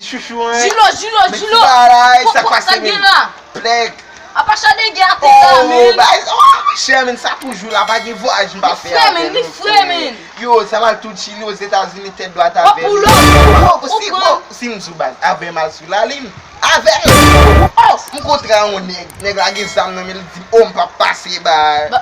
Chouchou an. Jilo jilo jilo. Kok kok sa k gen la. Plek. Apa chade gen ate la menn. Bagay sa wa wi chè menn sa toujou la pa gen vwayaj m pa fè avèl non frè. Li fre menn li fre menn. Yo sa mal tou chili ozetazini tèt dwat avèl. Wap pou lòk tou bro ou pran. Si m sou baz avèm al sou lalim avèl. Ohh m kontra yon nèg nèg la gen zam nan menl li dim oh m pap pase ba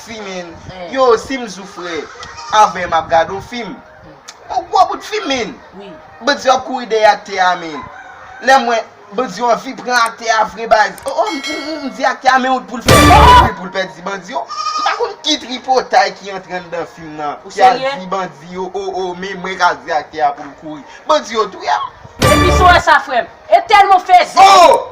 Fimin, yo sim zou fre avè map gad on fim Ou gwo bout fim min Bandi yo ap kouri dèyè aktè a min Lè m wè bandi yo anvi pran aktè a vre baz Oh oh m di aktè a men wout poul fè Yon wout poul pèdi bandi yo M pa konn ki tripotay ki antre anndan fim nan ki al di bandi yo oh oh men mwen ka di aktè a poul kouri Bandi yo touyem Depi sou wè sa frèm E tèlman fè zen.